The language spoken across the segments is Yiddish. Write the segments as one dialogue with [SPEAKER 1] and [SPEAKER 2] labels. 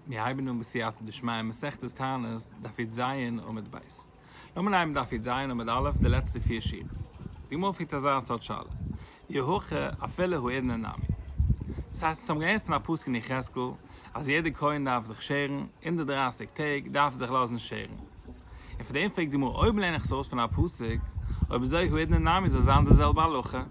[SPEAKER 1] מיר הייבן אן בסייעתא דשמיא מסכת תענית דף יט ז עמוד ב'. לאמיר לייענען דף יט ז עמוד א' די לעצטע פיר שורות. די גמרא פרעגט אזא סארט שאלה, אי הכא אפילו הוא עדנה נמי. דאס הייסט, אונז האבן געהערט פון א פסוק אין יחזקאל אז יעדער כהן דארף זיך שערן, אונדערט דרייסיג טעג דארף ער זיך לאזן שערן. און פון דעם פרעגט די גמרא אויב לערן איך עס אויס פון א פסוק, אויב אזוי הוא אידנא נמי זאל זיין די זעלבע הלכה,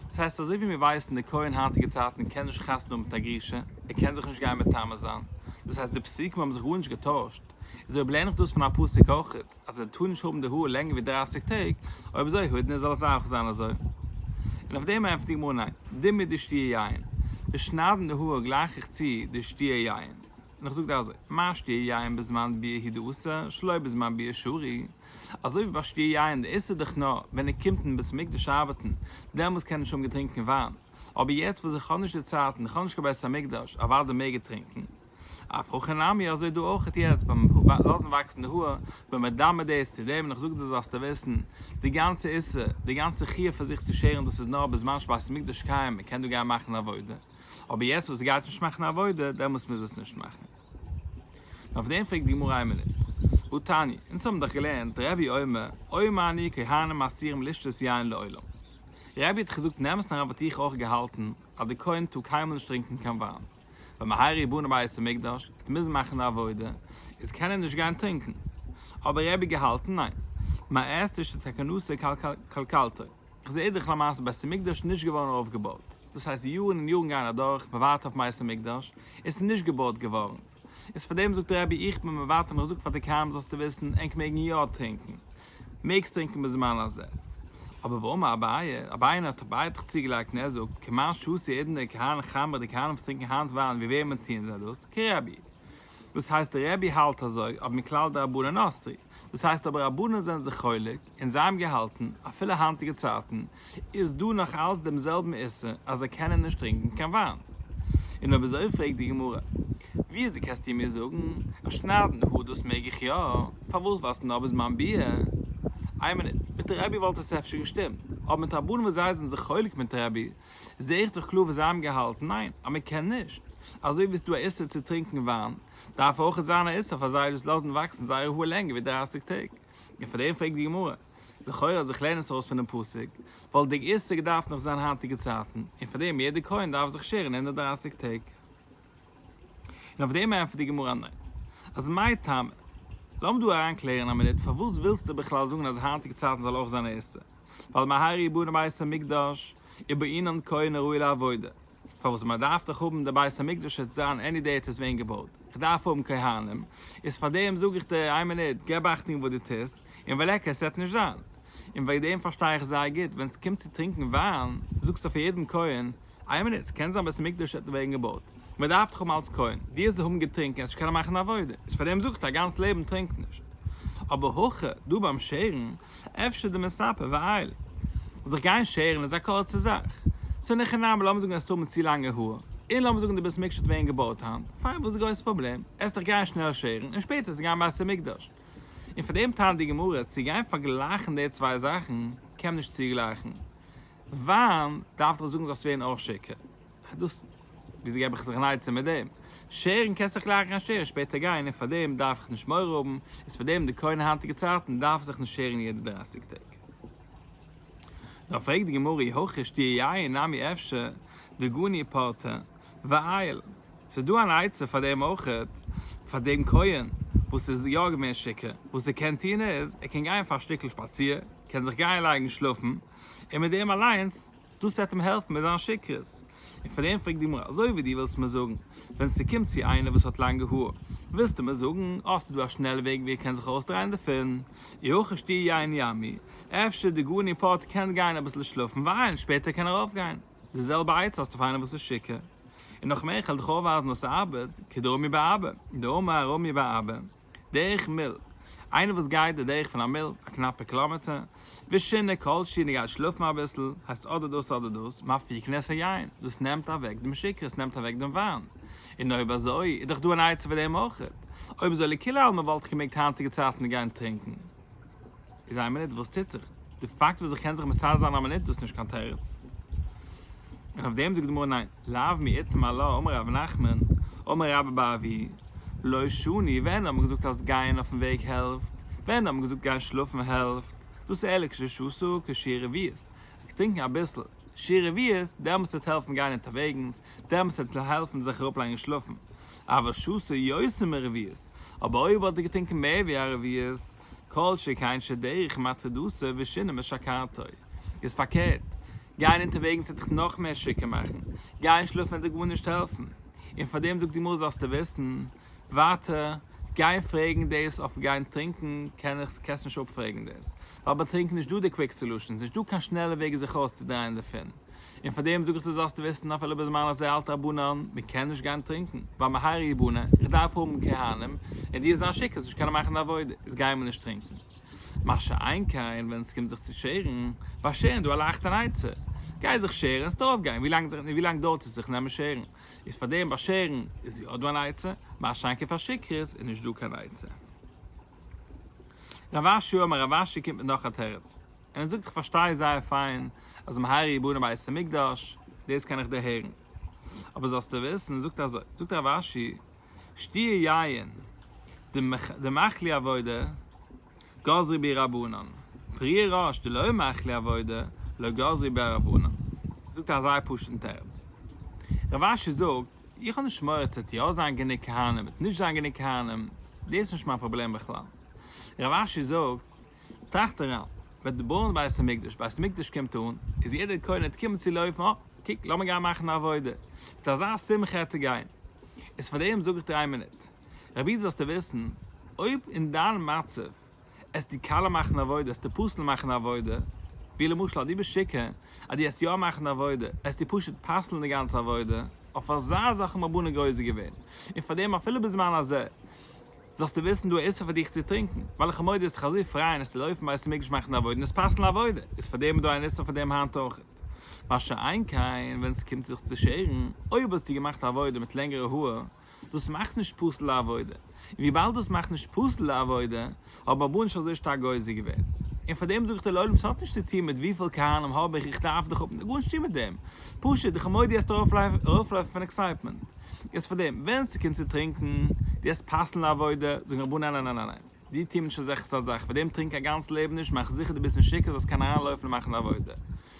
[SPEAKER 1] דאס הייסט אזוי ווי מיר ווייסן די כהן היינטיגע צייטן קען נישט חתונה האבן מיט א גרושה, ער קען זיך נישט גיין מטמא זיין, דאס הייסט די פסוקים האבן זיך גארנישט געטוישט, איז אויב לערן איך דאס פון א פסוק אויכעט אז ער טאר נישט האבן די האר לענגער ווי דרײַסיק טעג, אויב אזוי הוא אידנא זאל עס אויך זיין אזוי. און אויף דעם ענטפערט די גמרא ניין, די מיט די שתי' יין, די שניידן די האר גלייך איך צו די שתי' יין. און איך זאג דיר אזוי, מה שתיה יין בזמן ביה י דאסר שלא בזמן ביה שרי, אזוי ווי ביי שתיה יין די איסור דיך נאר ווען ער קומט אין בית המקדש ארבעטן, דעמאלס קען ער נישט האבן געטרינקן וויין, אבער יעצט וואס איך האב נישט די צייט און איך האב נישט קיין בית המקדש אוודאי מעג ער טרינקן. אף הכי נמי אזוי דא אויכעט יעצט ביים לאזן וואקסן די האר, בין מדמה דאס צו דעם און איך זאג דיר זאלסטו וויסן, די גאנצע איסור, די גאנצע חיוב פאר זיך צו שערן דאס איז נאר בזמן שבית המקדש קיים, מען קען דא גיין מאכן עבודה. אבער יעצט וואס עס גייט נישט מאכן א עבודה, דעמאלס מוז עס נישט מאכן. נו אויף דעם פרעגט די גמרא איין מינוט. הוא תני, אונז האבן דאך געלערנט, רבי אומר, אוי מאני כהנים מתירים לשתות יין לעולם. רבי האט דאך געזאגט נעם עס נאר אוואו האט איך אויך געהאלטן אז די כהן טאר קיינמאל נישט טרינקען קיין וויין. ווען מען הייראט בונה בית המקדש, ער האט מוזן מאכן די עבודה, איז קען ער נישט גיין טרינקען. אבער רבי האט געהאלטן ניין. מאי עשה שתקנותו קלקלתו. כ'זעה דאך למעשה בית המקדש נישט געווארן אויפגעבויט, דאס הייסט יארן און יארן גייען אדורך, מען ווארט אויף בית המקדש, עס איז נישט געבויט געווארן, איז פאר דעם זאגט דער רבי איך בין מוותר און איך זאג פאר די קיימא זאלסטו וויסן ענק מעגן יא טרינקן, מעגסט טרינקן בזמן הזה. אבער ואמר אביי, אביי האט אביי האט דאך צוגעלייגט און ער זאגט, כמאן שעשו עדן די כהנים חמרא די כהנים וואס טרינקן היינט וויין ווי וועמען טוען זיי דאס? כרבי. דאס הייסט דער רבי האלט אזוי אבער מכלל דרבנן אסרי, דאס הייסט אבער רבנן זענען זיך חולק, און זיי האבן געהאלטן, אפילו היינטיגע צייטן איז דא נאך אלץ דעם זעלבן איסור אז זיי קענען נישט טרינקען קיין וויין. און אויב אזוי פרעגט די גמרא, ווי איז די קענסט איר מיר זאגן אז שניידן האר דאס מעג איך יא, פארוואס ווייסטו נאר ביז מיין ביאה? איין מינוט, מיט די רבי וואלט עס אפשר געשטימט, אבער מיט רבנים וואס זיי זענען זיך חולק מיט רבי, זעה איך דאך קלאר וואס זיי האבן געהאלטן, ניין, אז מען קען נישט, אזוי ווי עס איז דא א איסור צו טרינקען וויין, דארף אויך זיין א איסור פאר זיי דאס לאזן וואקסן זייער האר לענגער ווי דרייסיג טעג. און פאר דעם פרעגט די גמרא, לכאורה אז איך לערן עס אויס פון דעם פסוק, וואלט דער איסור געדארפט נאך זיין היינטיגע צייטן, און פאר דעם יעדער כהן דארף זיך שערן הונדערט דרײַסיק טעג. און אויף דעם ענטפערט די גמרא ניין. אז מאי טעמא? לאמיר דא אריין קלערן א מינוט, פארוואס ווילסטו בכלל זאגן אז היינטיגע צייטן זאל אויך זיין א איסור? ווייל מהרי י בנה בית המקדש איז בענין כהן הראוי לעבודה, פארוואס מען דארף דאך האבן די בית המקדש עס זיין עני דעי עט איז ווען געבויט, איך דארף האבן כהנים, איז פארדעם זאג איך דיר איין מינוט געב אכטונג וואס דו טוסט, און וועל עקר עס וועט נישט זיין, און וועגן דעם פארשטיי איך זייער גוט ווען עס קומט צו טרינקן וויין, זאגסטו פאר יעדן כהן, איין מינוט ס'קען זיין בית המקדש עט ווערן געבויט, מען דארף דיך האבן אלץ כהן, דו זאלסט האבן געטרינקן עס נישט קענען מאכן עבודה, איז פארדעם זאגסטו א גאנץ לעבן טרינק נישט, אבער הכא דא ביים שערן, אפשר די מספר ווייל זיך גיין שערן איז א קורצע זאך. סאו ניחא נאמר לאמיר זאגן האסט האבן צו לאנגע האר, און לאמיר זאגן די בית מקדש האט ווערן געבויט היינט, פיין וואס איז די גרויסע פראבלעם, עסט דיך גיין שנעל שערן און שפעטער עסט גיין בית המקדש. און פאר דעם טענה'ט די גמרא צו גיין פארגלייכן די צוויי זאכן קען מען נישט צוגלייכן וויין דארף דאך זאגן זאלסט ווערן אויך שיכור. אט דאס וויאזוי געב איך זיך אן עצה מיט דעם. שערן קענסט דאך גלייך גיין שערן שפעטער גיין און פארדעם דארף איך נישט מורא האבן, איז פארדעם די כהן אין היינטיגע צייטן דארף זיך נישט שערן יעדע דרייסיג טעג. נאר פרעגט די גמרא אי הכי שתיה יין נמי אפשר דגוני פרטה ואייל. ס'איז דא אן עצה פאר דעם אויכעט, פאר דעם כהן וואס איז יא געווען שיכור, וואס ער קען טון איז, ער קען גיין פאר א שטיקל שפאציר, קען זיך גיין לייגן שלאפן, און מיט דעם אליינס דאס וועט אים העלפן מיט זיין שכרות. און פאר דעם פרעגט די גמרא, אזוי ווי דו ווילסט מיר זאגן, ווען ס'קומט צו איינער וואס האט לאנגע האר, ווילסטו מיר זאגן אז ס'איז דא א שנעלע וועג ווי ער קען זיך אויסדרייען דערפון, אי הכי שתי יין ימי, אפשר די גאון און פאטער קען גיין אביסל שלאפן ווייל שפעטער קען ער אויפגיין. די זעלבע עצה האסטו פאר איינער וואס איז שיכור. און נאך מער, איך העל דיך אויפווייזן אז ס'ארבעט, כדאמרי באבא, דאמר ארמי באבא. דרך מיל, איינער וואס גייט די דרך פון א מיל, א קנאפע קילאמעטער, ושינה כל שינה גייט שלאפן אביסל, הייסט אדער דאס אדער דאס, מפיק כנס היין, דאס נעמט אוועק דעם שקר, עס נעמט אוועק דעם וויין, און אויב אזוי איז דאך דא אן עצה פאר דעם אויכעט, אויב אזוי לכולי עלמא וואלט איך געמעגט היינטיגע צייטן גיין טרינקן. איז איין מינוט וואס טוט זיך? די פאקט וואס איך קען זיך מסדר זיין א מינוט דאס איז נישט קיין תירוץ? און אויף דעם זאגט די גמרא ניין, לאו מאיתמר להו אמר רבי נחמן, אמר רבא בר אבי, לא שני, ווען האט מען געזאגט אז גייען אויפן וועג העלפט? ווען האט מען געזאגט גיין שלאפן העלפט? דאס איז ערליך כששסו כשיר רביעית, איך טרינקן אביסל שיר רביעית דעמאלס טוט העלפן גיין אונטערוועגנס, דעמאלס טוט העלפן זיך אראפלייגן שלאפן. אבער שסה יותר מרביעית, אבער אויב האט ער געטרינקען מער ווי א רביעית, כל שכן שדרך מתחי דסה ושינה משכרתו. איז פארקערט, גיין אונטערוועגנס וועט דיך נאך מער שיכור מאכן, גיין שלאפן וועט דיר גארנישט העלפן, און פאר דעם זאגט די גמרא זאלסטו וויסן, ווייטער, גיין פרעגן דאס אויף גיין טרינקען קען איך, קענסט נישט אפפרעגן דאס, ווייל ביי טרינקען איז נישט דא די קוויק סעלושענס, נישט דא קיין שנעלע וועג זיך אויסצודרייען דערפון. און פאר דעם זאג איך דיר זאלסט וויסן אפילו בזמן הזה אל תעבונן, מען קען נישט גיין טרינקען, ווייל מהר י בונה, איך דארף האבן כהנים, און דיר זיין שיקער זאלסט נישט קענען מאכן די עבודה, איז גיי מען נישט טרינקען. מה שאין כן ווען עס קומט זיך צו שערן, באשערן דא עלייכט אן עצה, גיי זיך שערן און עס דארף גיין, ווי לאנג דארט עס זיך נעמען שערן, איז פאר דעם באשערן איז יא דא אן עצה, מה שאין כן פאר שיקערס איז נישט דא קיין עצה. רב אשי אומר רב אשי קומט מיט נאך א תירוץ. און ער זאגט איך פארשטיי זייער פיין אז מהרי י בנין בית המקדש, דאס קען איך דיר הערן, אבער זאלסטו וויסן, זאגט ער אזוי, זאגט רב אשי, שתי' יין, דמאכלי עבודה, גזרי בי רבנן, פרי ראש דלא מאכלי עבודה, לא גזרי בה רבנן. זאגט ער א זייער פשוט'ן תירוץ. רב אשי זאגט, איך האב נישט מורא צו עס יא זיין גענוג כהנים, עס נישט זיין גענוג כהנים, דאס איז נישט מיין פראבלעם בכלל. רב אשי זאגט. טראכט אריין, ווען די בויען בית המקדש, בית המקדש קומט אן, איז יעדער קונה ער קומען צו לויפן, אה, קוק, לאמיר גיין מאכן א עבודה, מיט אזא שמחה עטער גיין, איז פאר דעם זאג איך דיר איין מינוט, רביד זאלסטו וויסן, אויב אין דיין מצב, עסטו כלה מאכן עבודה, עסטו פסל'ן מאכן עבודה, ווי למשל אז דו ביסט שיכור, אז דו עסט יא מאכן עבודה, עסטו פשוט פסל'ן די גאנצע עבודה, אויף אזא זאך האבן רבנן גוזר געווען, און פאר דעם אפילו בזמן הזה, זאלסטו וויסן דא איסור פאר דיך צו טרינקען, וועלכע מויד איז דיך אזוי פרייען עס צו לויפן ווייל ס'מעג נישט מאכן די עבודה און עס פסל'ן א עבודה, איז פאר דעם איז דא אן איסור פאר דעם היינט אויכעט. מה שאין כן ווען עס קומט זיך צו שערן, אויב האסטו געמאכט א עבודה מיט לענגערע האר, דאס מאכט נישט פסול די עבודה, און וויבאלד דאס מאכט נישט פסול די עבודה, האבן רבו נישט אזוי שטארק גוזר געווען. און פאר דעם זאג איך דיר לעולם ס'האט נישט צו טון מיט וויפיל כהנים האב איך איך דארף דיך האבן, האט גארנישט צו טון מיט דעם, פשוט די כמודי העסטו ארויפלויפן פון עקסייטמענט. יעצט פאר דעם ווען ס'קומט צו טרינקן, דו האסט פארסנעל עבודה, זאגן רבונו ניין ניין ניין ניין, דו טו נישט אזעלכע סארט זאכן, פאר דעם טרינק א גאנץ לעבן נישט, מאך זיכער דו ביסט נישט שיכור זאלסט קענען אריין לויפן און מאכן די עבודה.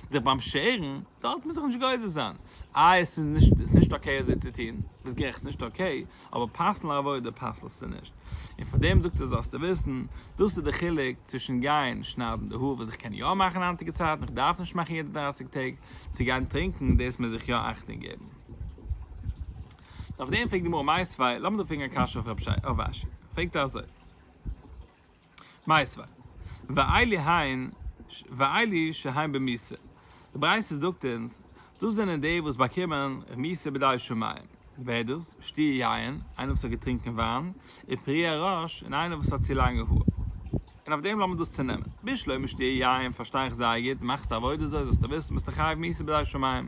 [SPEAKER 1] זיך ביים שערן, דארט מוז איך נישט גוזר זיין, איי עס איז נישט עס איז נישט אקעי אזוי צו טון, ביסט גערעכט עס איז נישט אקעי, אבער פארסנעל עבודה פסל'סטו נישט. און פאר דעם זאגט ער זאלסטו וויסן, דאס איז די חילוק צווישן גיין שניידן די האר וואס איך קען יא מאכן היינטיגע צייטן, איך דארף נישט מאכן יעדע דרייסיג טעג, צו גיין טרינקן, דאס מוז איך יא אכטונג געבן. אויף דעם פרעגט די גמרא מאי סבי', לאמיר דא פרעגן א קשיא אויף רב אשי, פרעגט ער אזוי, מאי סבי', ואילי היין, ואילי שהיין במיסה, די ברייתא זאגט אונז, דאס זענען די וואס באקומען רמיסה בדאי שמים, ווער איז דאס, שתי' יין, איינער וואס האט געטרינקען וויין, ופרי הראש, און איינער וואס האט צו לאנגע האר. און אויף דעם לאמיר דאס צונעמען, בשלמא שתי' יין, פארשטיי איך זייער גוט, מאכסטו עבודה זאל, זאלסטו וויסן, ביסטו חייב מיסה בדאי שמים.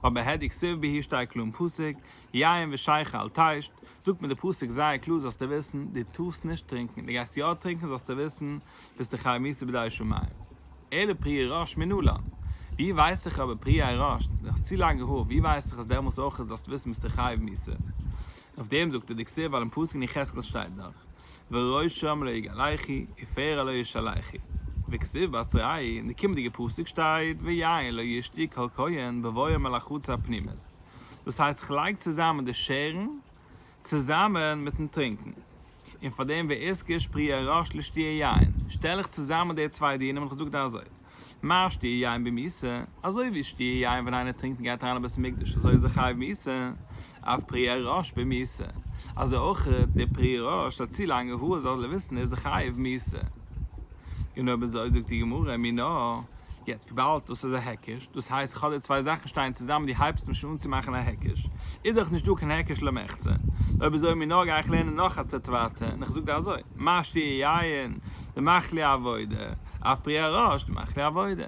[SPEAKER 1] אבער העדי כסיל בהיר שטייט קלאר אין פסוק, יין ושייכע אל תשת, זאגט מיר די פסוק זייער קלאר זאלסטו וויסן, דו טארסט נישט טרינקען, דו גייסט יא טרינקען זאלסטו וויסן ביסטו חייב מיתה בדאי שמים. אלא פרי עיראש מינו לן. ווי ווייס איך אבער פרי עיראש, דו האסט צו לאנגע האר, ווי ווייס איך אז דעמאלס אויכעט זאלסטו וויסן ביסטו חייב מיתה? אויף דעם זאגט עדי כסיל ווייל אין פסוק אין יחזקאל שטייט דאך, וראשם ר' יגאל היכי, עפר עליה ישאליכי. וכסוף בת רעי, אין די קומענדיגע פסוק שטייט ויין לא ישתי כל כהן בבואו מלחוץ הפנימית, דאס הייסט כ'לייג צוזאמען די שערן צוזאמען מיטן טרינקן, און פארדעם ואזכיר שפרי הראש לשתי' יין, שטעל איך צוזאמען די צוויי דינים און כ'זאג דאן אזוי, מע שטיע יין במיסה, אזוי ווי שטיע יין ווען איינער טרינקט און גייט אריין אין בית המקדש אזוי איז ער חייב מיסה, אויף פרי ערש במיסה, אזוי אויך די פרי ערש האט צו לאנגע האר זאל ער וויסן איז ער חייב מיסה. און אויב אזוי זאגט די גמרא מינא, יעצט וויבאלד דאס איז א היקש, דאס הייסט כ'האב דא צוויי זאכן שטייען צוזאמען די הייבסט מיך שוין אן צו מאכן א היקש, איז דאך נישט דא קיין היקש למחצה, אויב אזוי מינא גיי איך לערנען נאך א טעטוואטע און איך זאג דיר אזוי. משתי יין, די מאכלי עבודה, אויף פרי הראש, די מאכלי עבודה.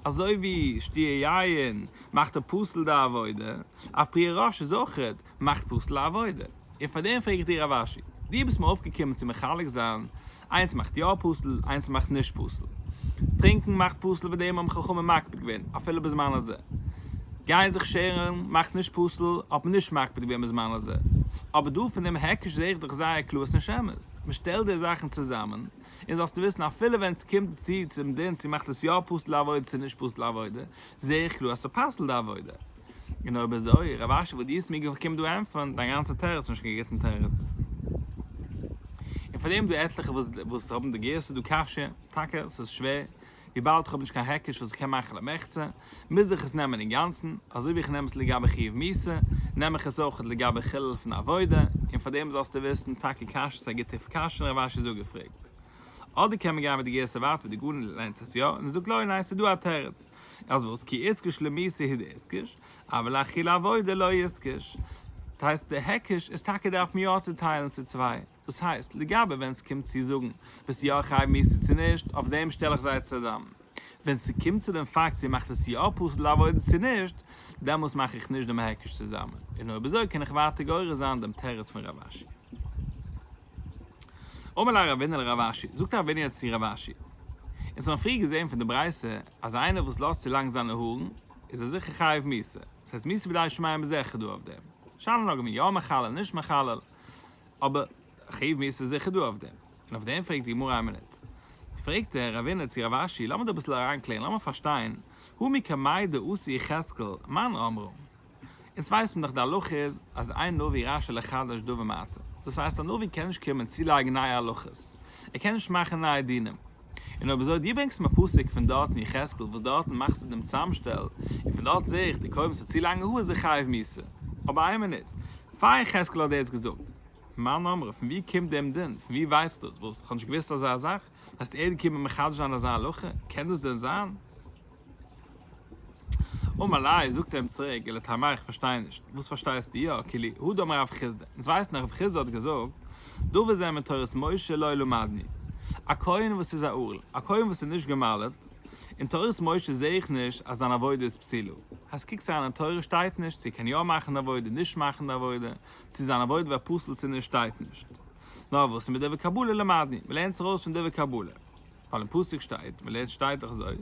[SPEAKER 1] אזוי ווי שתי יין מאכט א פסול די עבודה, אויף פרי הראש איז אויכעט מאכט פסול א עבודה. און פאר דעם פרעג איך דיר רב אשי, דו ביסט מיר אויפגעקומען צו מחלק זיין, איינס מאכט יא פסול, איינס מאכט נישט פסול. טרינקן מאכט פסול וועגן דעם האבן חכמים מקפיד געווען אפילו בזמן הזה. גיין זיך שערן מאכט נישט פסול, האט מען נישט מקפיד געווען בזמן הזה. אבער דא פון דעם היקש זעה איך דאך זייער קלאר עס נישט אמת. מען שטעלט די זאכן צוזאמען, און זאלסטו וויסן אפילו ווען עס קומט צו צום דין צו מאכט עס יא פסול די עבודה צו נישט פסול די עבודה, זעה איך קלאר אז עס פסל'ט די עבודה. און אויב אזוי, רב אשר וואלט די עס מיר געקומט דא ענטפערן, דיין גאנצע תירוץ איז נישט קיין גוטן תירוץ. און פאר דעם איז דא עטליכע וואס האבן די גרסא דקשיא, טאקע עס איז שווער וויבאלד איך האב נישט קיין היקש וואס איך קען מאכן למחצה, מוז איך עס נעמען אינגאנצן, אזוי ווי איך נעם עס לגבי חיוב מיתה, נעם איך עס אויך לגבי חילול פון עבודה, און פאר דעם זאלסטו וויסן, טאקע קשיא ס'איז א גוטע קשיא און רב אשי זאגער פרעגט. אדער קען מען גיין מיט די גרסה ווייטער ווי די גאון לערנט עס יא, און ער זאגט לא ניין ס'איז דא א תירוץ, אז וואס כי איסקיש למיתה היא דאיסקיש, אבל לאכילה עבודה לא איסקיש. דאס הייסט די היקש איז טאקע דער אויף מיר אויסצוטיילן צו צוויי. דאס הייסט, לגבי ווען ס'קומט צו זאגן, ביסטו יא א חייב מצוה צו נישט, אויף דעם שטעל איך זיי צוזאם. ווען ס'קומט צו דעם פאקט צו מאכט עס יא פסול לעבודה צו נישט, דעמאלס מאך איך נישט דעם היקש צוזאם, און אויב אזוי קען איך ווייטער גורס זיין דעם תירוץ פון רב אשי. אמר לה רבינא לרב אשי, זאגט א רבינא צו רב אשי, אונז האבן פריער געזען פון די ברייתא, אז איינער וואס לאזט צו לאנג זיינע הארן, איז ער זיכער חייב מצוה, ס'הייסט מצוה בידי שמים איז זיכער דא אויף דעם. שאלה נוגע מיין יא מחלל נישט מחלל, אבער חב מ עס איז זיכער דא אויף דעם. און אויף דעם פרעגט די גמרא איין מינוט. פרעגט דער רבינ'ער צו רב אשי לאמיר דיר אביסל אריינקלערן לאמיר פארשטיין המי קמאי דאוסי יחזקאל מאן אמרו. אונז ווייסן דאך די הלכה איז אז איין נביא רשאי לחדש דבר מעתה. דאס הייסט א נביא קען נישט קומען צולייגן נייע הלכות. ער קען נישט מאכן נייע דינים. און אויב אזוי, דו ברענגסט מיר א פסוק פון דארטן יחזקאל וואס דארטן מאכסטו דעם צאמשטעל, און פון דארט זע איך די קובען ס'איז צו לאנגע האר זיי חייב מיתה. אבער איין מינוט, פאר יחזקאל האט דער יעצט געזאגט מאן אמר, פון ווי קומט דעם דין? פון ווי ווייסט דאס? וואס? כ'האב נישט געוואוסט אזא זאך? הייסט ער איז געקומען מחדש זיין אזא הלכה? קען דאס דען זיין? אמר ליה, זאגט ער אים צוריק, אלא תמי איך פארשטיי נישט, וואס פארשטייסטו יא, כי לי הוא דאמר רב חיסדא, אונז ווייסן אז רב חיסדא האט געזאגט, דבר זה מן תורת משה לא ילמדני, א כהן וואס איז א ערל, א כהן וואס איז נישט געמל'עט, אין תורת משה זעה איך נישט אז זיין עבודה איז פסילה, אז קוקסט אריין אין תורה שטייט נישט צו ער קען יא מאכן די עבודה נישט מאכן די עבודה, צו זיין עבודה ווערט פסול צו נישט שטייט נישט, נאר וואס איז מיט דבר קבלה למדני, מ'לערנט זיך אויס פון דבר קבלה. ווייל אין פסוק שטייט, מ'לערנט שטייט דאך אזוי,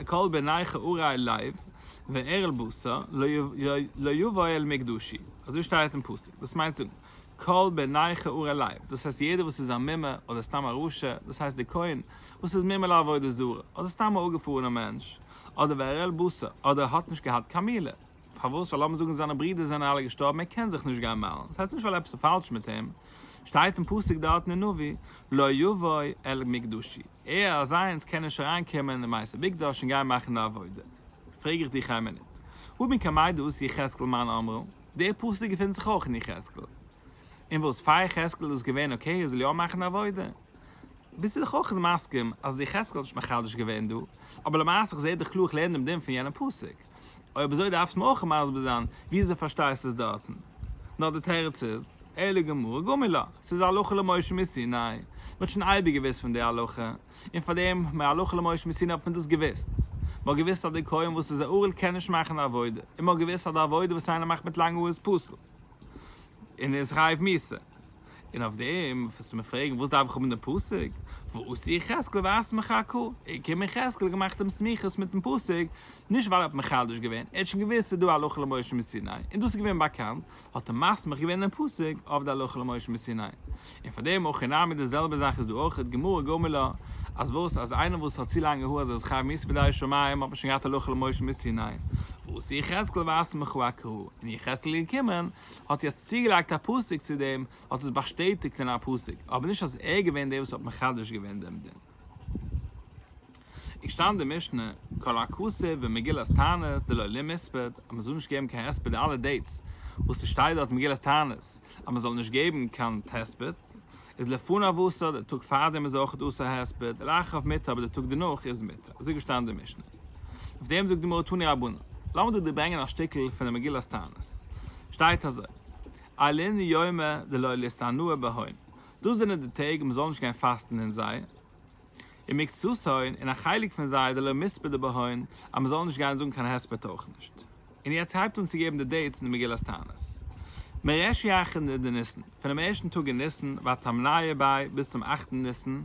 [SPEAKER 1] כל בניך אוראי לב ואערל בשר לא יבאו אל מקדשי, אזוי שטייט אין פסוק, דאס מיינט זאגן, כל בניך אוראי לב, דאס הייסט יעדער וואס איז א מומר אדער סתם א רשע, דאס הייסט די כהן וואס איז מומר לעבודה זרה, אדער סתם א אפגעפארענער מענטש, אדער ואערל בשר, אדער האט נישט געהאט קיין מילה. פארוואס? ווייל לאמיר זאגן זיינע ברידער זענען אלע געשטארבן, ער קען זיך נישט גיין מיילן, דאס הייסט נישט ווייל עפעס איז פאלש מיט אים, שטייט אין פסוק דארטן אין נביא, לא יבוא אל מקדשי, ער אזיינס קען נישט אריין קומען אין בית המקדש און גיין מאכן די עבודה. פרעג איך דיך איין מינוט, ומי כמי דאס יחזקאל מאן אמרו, דער פסוק געפינט זיך אויך אין יחזקאל, און וואס פאר יחזקאל איז דאס געווען אקעי ער זאל יא מאכן די עבודה? ביסטו דאך אויך מסכים אז יחזקאל האט נישט מחדש געווען דא, אבער למעשה איך זע דיך קלאר איך לערן דעם דין פון יענעם פסוק. אויב אזוי דארפסט מיר אויך מסביר זיין וויאזוי פארשטייסטו עס דארטן. נאר די תירוץ איז, אלא גמרא גומי לה, ס'איז א הלכה למשה מסיני. מ'האט שוין אייביג געוואוסט פון די הלכה, און פאר דעם הלכה למשה מסיני האט מען דאס געוואוסט. מ'האט געוואוסט אז די כהן וואס איז א ערל קען נישט מאכן די עבודה, און מ'האט געוואוסט אז די עבודה וואס איינער מאכט מיט לאנג האר איז פסול און איז חייב מיתה. און אויף דעם וועסטו מיך פרעגן וואס דארף איך האבן דעם פסוק, ועשה יחזקאל ואסמך ק, ער קען מיך יחזקאל האט געמאכט דעם סמיכות מיטן פסוק, נישט ווייל ער האט מחדש געווען, ער האט שוין געוואוסט ס'איז דא א הלכה למשה מסיני, און דאס איז געווען באקאנט, האט ער מסמיך געווען דעם פסוק אויף די הלכה למשה מסיני. און פאר דעם הכי נמי די זעלבע זאך איז דא אויך את גמרא גמ' לה, אז וואס אז איינער וואס האט צו לאנגע האר אז ער איז חייב מיתה בידי שמים האט מען שוין געהאט הלכה למשה מסיני, ועשה יחזקאל ואסמך ק, און יחזקאל איז געקומען האט יעצט צוגעלייגט א פסוק צו דעם, האט עס באשטעטיגט אין א פסוק, אבער נישט אז ער איז געווען דער וואס האט מחדש געווען דעם דין. איך שטיין די משנה, כל הכסף במגילת תענית דלא ליה מספד, אז מען זאל נישט געבן קיין הספד די אלע דעיטס וואס ס'שטייט דארט אין מגילת תענית אז מען זאל נישט געבן קיין הספד, איז לפניו אסור, די טאג פארדעם איז אויך אסור הספד, לאחריו מותר אבער די טאג דערנאך איז מותר, אזוי איז געשטאנען די משנה. אויף דעם זאגט די גמרא תני רבנן. לאמיר דא דיר ברענגען א שטיקל פון די מגילת תענית. שטייט אזוי, אלין יומא דלא ליסתנוה בהן, דאס זענען די טעג מ'זאל נישט גיין פאסטן אין זיי, ומקצתן, און א חלק פון זיי דלא מספדא בהן, אז מ'זאל נישט גיין זאגן קיין הספד אויך נישט. און יעצט הייבט אן צו געבן די דעיטס אין די מגילת תענית. מרש י ח ד ניסן, פונעם ערשטן טאג אין ניסן ותמניה ב ביז צום אכטן ניסן,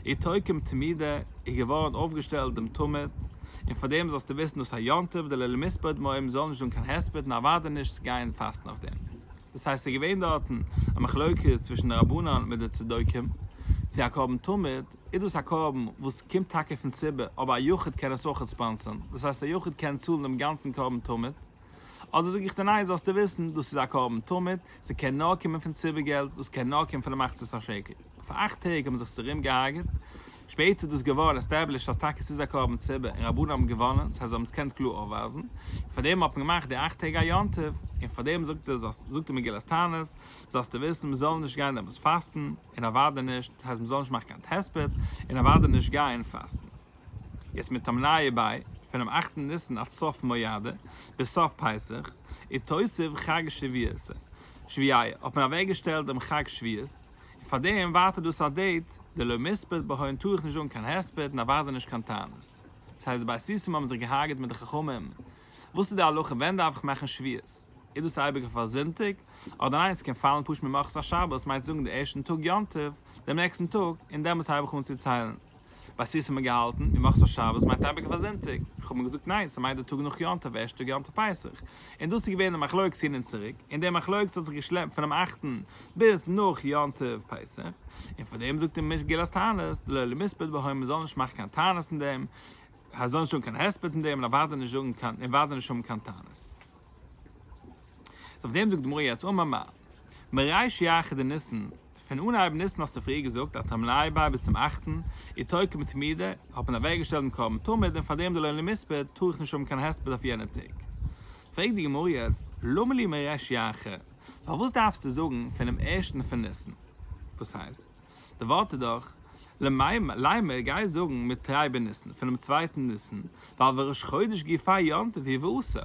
[SPEAKER 1] אי תוקם תמידה, איז געווארן אויפגעשטעלט דעם תמיד, און פאר דעם זאלסטו וויסן דאס א יום טוב דלא למספר דמאים זאל נישט זאגן קיין הספד און אוודאי נישט צו גייען פאסטן אויף דעם. דאס הייסט ס'איז געווען דארטן א מחלוקת צווישן די רבנן מיט די צדוקים צו האקאבן תמיד, איז דאס א קרבן וואס קומט טאקע פון ציבור, אבער א יחיד קען עס אויך עקספענסען, דאס הייסט א יחיד קען צאלן דעם גאנצן קרבן תמיד, אדער זאג איך דיר ניין זאלסטו וויסן דאס איז א קרבן תמיד, ס'קען נאר קומען פון ציבור געלט, דאס קען נאר קומען פון די מחצית השקל. פאר אכט טעג האבן זיך צורים געהארגעט, שפעטער איז דאס געווארן עסטעבלישט אז טאקע ס'איז א קרבן ציבור און רבנים האבן געוואנען, דאס הייסט זיי האבן עס געקענט קלאר אויפווייזן, און פארדעם האט מען געמאכט די אכט טעג א יום טוב, און פארדעם זאגט ער זאגט די מגילת תענית זאלסטו וויסן מ'זאל נישט גיין דעמאלטס פאסטן, און אוודאי נישט, דאס הייסט מען זאל נישט מאכן קיין תספות, און אוודאי נישט גייען פאסטן. יעצט מיט תמניא ביי, פונעם אכטן ניסן עד סוף מויאדע, ביז סוף פסח, איז תוסיף חג שביעית, שביעי, האט מען אוועק געשטעלט דעם חג שביעית, און פאר דעם ווייטער דאס א דעיט, די לא מספד בה הן טאר איך נישט זאגן קיין הספד און אוודאי נישט קיין תענית. דאס הייסט די בית ישרים האבן זיך געהארגעט מיט די חכמים וואס איז די הלכה ווען דארף איך מאכן שביעות? איז דאס אייביג אויף א זונטאג? אדער ניין עס קען פאלן פשוט ממחרת א שבת מיינסט זאגן די ערשטן טאג יום טוב דעם נעקסטן טאג און דעמאלטס הייב איך אן צו ציילן? ביי סיסי האט מען געהאלטן ממחרת א שבת מיינט אייביג אויף א זונטאג איך האב מיר געזאגט ניין ס'מיינט די טאג נאך יום טוב ערשטע טאג יום טוב פסח און דאס איז געווען די מחלוקת הין און צוריק און די מחלוקת האט זיך געשלעפט פונעם אכטן ביז נאך יום טוב פסח און פאר דעם זאגט די מגילת תענית דלא למיספד בהוי מ'זאל נישט מאכן קיין תענית אין דעם הייסט דאן נישט זאגן קיין הספד אין דעם און אוודאי נישט זאגן קיין און אוודאי נישט האבן קיין טענות. סאו אויף דעם זאגט די גמרא יעצט אמר מר. מריש י אחי דניסן, פון אנהייב ניסן האסטו פריער געזאגט אז טעם לייביי ביז צום אכטן איז תוקע מתמידה, האט מען אוועקגעשטעלט דעם קרבן תמיד און פארדעם די לעולם מספד טאר איך נישט האבן קיין הספד אויף יענע טעג. פרעגט די גמרא יעצט למה לי מריש י אחי, פארוואס דארפסטו זאגן פונעם ערשטן פון ניסן? וואס הייסט? די ווארט איז דאך ליימער גיי זאגן מיט תרי בניסן פונעם צווייטן ניסן ווייל וראש חודש גיי פאר יום טוב היא ועושה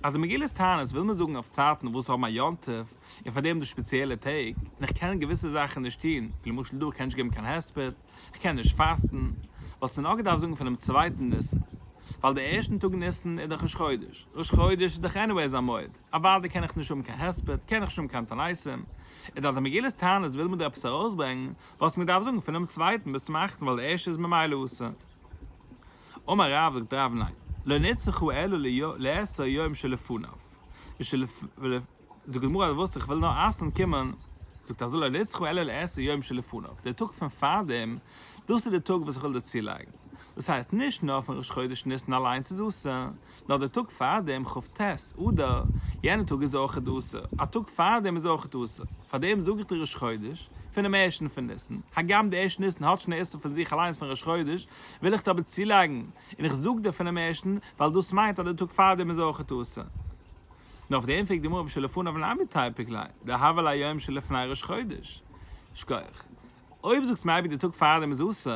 [SPEAKER 1] אז די מגילת תענית וויל מען זאגן אויף צייטן וואס האבן א יום טוב און פאר דעם דא שפעציעלע טעג און איך קען געוויסע זאכן נישט טון ווי למשל דא איך קען נישט געבן קיין הספד איך קען נישט פאסטן וואלסטו נאר געדארפט זאגן פונעם צווייטן ניסן ווייל די ערשטן טאג ניסן איז דאך ראש חודש ראש חודש איז דאך עניוועיס א מועד אוודאי קען איך נישט האבן קיין הספד קען איך נישט האבן קיין תעניתים איז דאך די מגילת תענית וויל מען דא עפעס ארויסברענגן וואס מען דארף זאגן פונעם צווייטן ביז צום אכטן ווייל די ערשטע איז ממילא אסור. אמר רב זאגט דער רב ניין לא נצרכו אלא לעשר יום שלפניו ושלפ זאגט די גמרא אז וואס איך וויל נאר אסר'ן קומען זאגט אז לא נצרכו אלא לעשר יום שלפניו די טאג פון פארדעם דאס איז די טאג וואס איך וויל דערצולייגן דאס הייסט נישט נאר פון ראש חודש ניסן אליינס איז אסור נאר דער טאג פארדעם כ ט אדר, יענער טאג איז אויכעט אסור, א טאג פארדעם איז אויכעט אסור, פארדעם זאג איך די ראש חודש פונעם ערשטן פון ניסן, הגם די ערשטן ניסן האט שוין א איסור פון זיך אליינס פון ראש חודש, וויל איך דא אבער צולייגן, און איך זאג דיר פונעם ערשטן, ווייל דאס מיינט אז דער טאג פארדעם איז אויכעט אסור. נו אויף דעם פרעגט די גמרא בשלפניו למה תיפק ליה, דהוה ליום שלפני ראש חודש? שקויעך. אויב זאגסט מעיבי די טאג פארדעם איז אסור,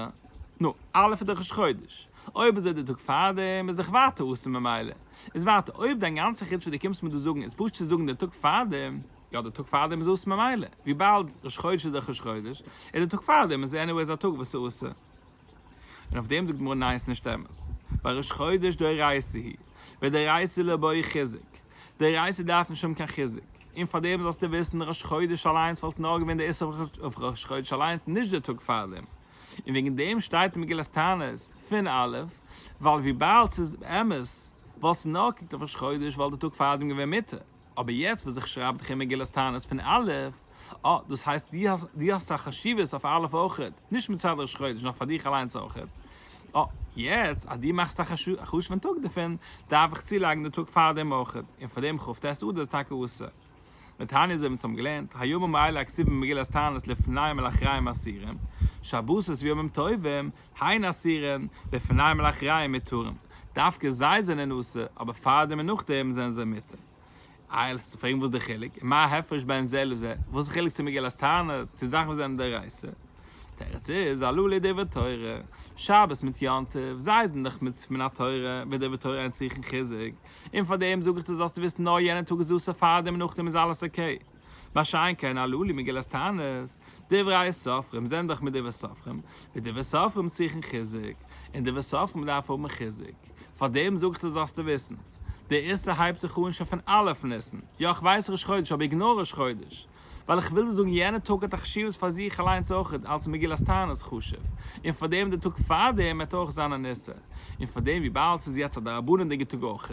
[SPEAKER 1] נו, א' איז דאך ראש חודש, אויב איז ער די טאג פארדעם איז דאך ווייטער אסור ממילא איז ווייטער, אויב דיין גאנצע חידוש וואס די קומסט מיר דא זאגן איז פשוט צו זאגן די טאג פארדעם, יא די טאג פארדעם איז אסור ממילא, וויבאלד ראש חודש איז דאך ראש חודש, איז די טאג פארדעם איז עניוועיס א טאג וואס איז אסור. און אויף דעם זאגט די גמרא ניין ס'נישט אמת, ווייל ראש חודש דאורייתא היא, ודאורייתא לא באי חיזוק. די רייסער דארף נישט האבן קיין חיזוק, און פאר דעם זאלסטו וויסן ראש חודש אליינס וואלט נאר געווען די איסור אויף ראש חודש אליינס נישט די טאג פאר דעם, און וועגן דעם שטייט אין מגילת תענית פין א', ווייל וויבאלד ס'איז אמת וואלסטו נאר געקוקט אויף ראש חודש וואלט די טאג פאר דעם געווען מותר, אבער יעצט וואס איך שרייב דיך אין מגילת תענית פין א', אה, דאס הייסט דו האסט א חשיבות אויף א' אויך, נישט מצד ראש חודש נאר פאר דיך אליינס אויך. אה, יעצט אז דו מאכסט א חשוב'ן טאג דערפון, דארף איך צולייגן די טאג פארדעם אויך, און פאר דעם כ ט אדר איז טאקע אסור. לתניא אזוי ווי אונז האבן געלערנט, היום הוא מעלה הכתובים במגילת תענית לפני מלאחריים אסירים, שבתות וימים טובים היין אסירין, לפני מלאחריים מתירים. דווקא זיי זענען אסור, אבער פארדעם און נאכדעם זענען זיי מותר. איי לאמיר זיך פרעגן וואס איז די חילוק? און מה ההפרש בין זה לזה? וואס איז די חילוק צו מגילת תענית צו זאכן וואס זענען דאורייתא? תירוץ איז הלא ליה דברי תורה, שבת מיט יום טוב, זיי זענען דאך מצוה מן התורה, וועט דברי תורה אונז זוכן חיזוק, און פאר דעם זאג איך דיר זאלסטו וויסן נאר יענע טאג איז אסור פאר דעם און נאכדעם איז אלעס אקעי. מה שאין כן אלו אלי מגילת תענית, דברי סופרים זענען דאך מדברי סופרים, ווי דברי סופרים צריכן חיזוק, און דברי סופרים דארף האבן חיזוק, פאר דעם זאג איך דיר זאלסטו וויסן, דער איסור הייבט זיך אן שוין פון א' ניסן, יא איך ווייס ראש חודש אבער איגנאר ראש חודש, ווייל איך וויל דיר זאגן יענע טאג האט א חשיבות פאר זיך אליינס אויך אלס מגילת תענית חשוב, און פאר דעם דער טאג פאר דעם וועט אויך זיין אן איסור, און פאר דעם וויבאלד ס'איז יעצט א דרבנן'דיגע טאג אויך,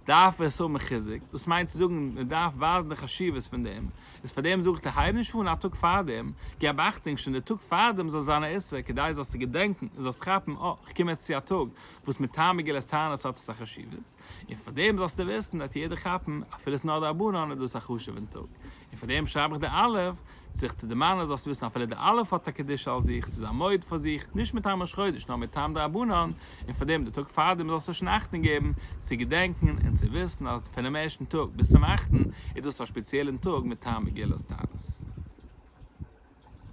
[SPEAKER 1] דארף עס האבן חיזוק, דאס מיינט צו זאגן מען דארף ווייזן די חשיבות פון דעם, איז פאר דעם זאגט ער הייב נישט אן א טאג פארדעם, געב אכטונג שוין די טאג פארדעם זאל זיין א איסור כדי זאלסטו געדענקן און זאלסט כאפן אה כ'קום יעצט צו א טאג וואס מטעם מגילת תענית האט עס א חשיבות, און פאר דעם זאלסטו וויסן וועט יעדער כאפן אפילו ס'נאר דרבנן איז דאס א חשוב'ן טאג, און פאר דעם שרייב איך די אלף, זיך צו דערמאנען זאלסטו וויסן אפילו די אלף האט א קדושה על זיך, ס'איז א מועד פאר זיך, נישט מטעם ראש חודש נאר מטעם דרבנן, און פאר דעם די טאג פארדעם זאלסטו שוין אכטונג געבן צו געדענקן און צו וויסן אז פונעם ערשטן טאג ביז צום אכטן איז דאס א שפעציעלן טאג מטעם מגילת תענית.